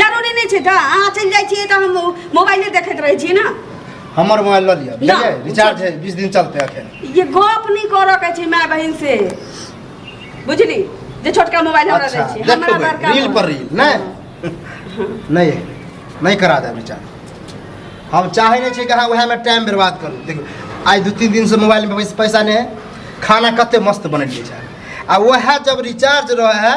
जरूरी नहीं छे गा अहाँ चल जाए छिए त हम मोबाइले देखत रहे छिए ना हमर मोबाइल ल लिया ना, बुझलिए रिचार्ज है 20 दिन चलते अखन ये गप नहीं कर के छी माय बहन से बुझली जे छोटका मोबाइल हमरा अच्छा दे छी हमरा देखबै बड़का रील पर रील नहीं नहीं नहीं करा देब रिचार्ज हम चाहे नहीं छी कि अहाँ वएह में टाइम बर्बाद करू देखू आइ दू तीन दिन से मोबाइल में पैसा नहीं है खाना कते मस्त बनेलिए छै आ वएह जब रिचार्ज रहे है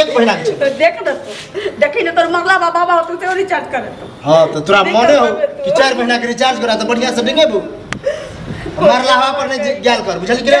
एक महीना तो देख दे देखी ने तोर मगला बाबा बाबा तू तो रिचार्ज कर तो हां तो तोरा मने हो कि 4 महीना के रिचार्ज करा तो बढ़िया से नहीं नेबू मरला हवा पर नहीं गेल कर बुझल कि रे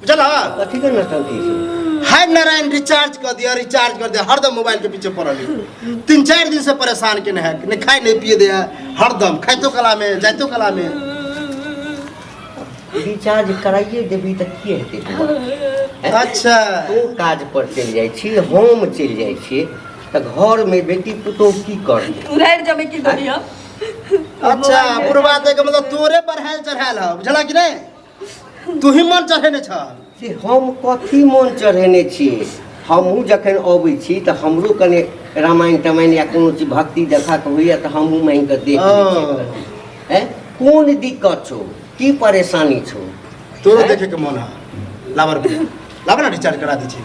बुझल है कथी के नौटंकी छै हाय नारायण रिचार्ज कर दिया रिचार्ज कर दिया हरदम मोबाइल के पीछे पड़ल है तीन चार दिन से परेशान के है नहीं खाए नहीं पिए दे है हरदम खाइतो कला में जाइतो कला में रिचार्ज कराइए देबी तऽ की हेतै बौआ? अच्छा ओ काज पर चलि जाइ छी हम चलि जाइ छी तऽ घर में बेटी पुतोह की करतै तू रह जमे की करियो अच्छा पूर्वाते के मतलब तोरे बढ़ायल चढ़ायल है बुझला कि नहीं तू ही मन चढ़ेने छ से हम कथी मन चढ़ेने छी हमहूँ जखन अबै छी तऽ हमरो कने रामायण तमायण या कोनो चीज भक्ति देखा के होइए तऽ हमहूँ मानि कऽ देख हैं कोन दिक्कत छौ की परेशानी छौ तोरो देखे के मन है लावर लावर ना रिचार्ज करा दी छी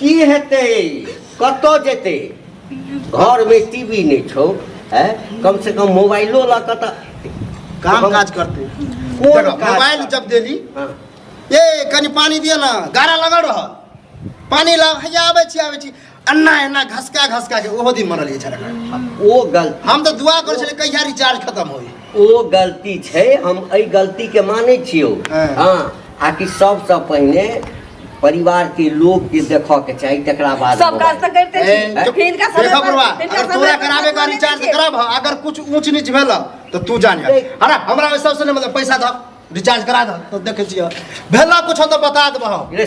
की हेतै कतऽ जेतै घरमे टीवी नहि छौ है कम से कम मोबाइलो लऽ कऽ तऽ काम काज करते कोन मोबाइल जब देली हाँ। ए कनी पानी दिए ना गारा लगा रह पानी ला हैया आबै छी आबै छी अन्ना एना घसका घसका के ओहो दिन मरल ये झगड़ा ओ गलती हम तो दुआ कर छले कहिया रिचार्ज खत्म होई ओ गलती छै हम एहि गलतीके मानै छियौ हँ। हँ आ कि सबसँ पहिने परिवारके लोकके देखऽके चाही तकरा बाद सब काज तऽ करिते ए, छी चुप। हिनका समय देखो पर- बरुआ, हिनका अगर समय तोरा पर कराबे का बात रिचार्ज करैके। करब हँ, अगर कुछ ऊंच नीच भेल हँ, तो तू जान जा देख। अरे हमरा ओहि सबसे नहीं मतलब पैसा दह रिचार्ज करा दह तो देखे छियै भेल कुछ हो तो बता देबह रे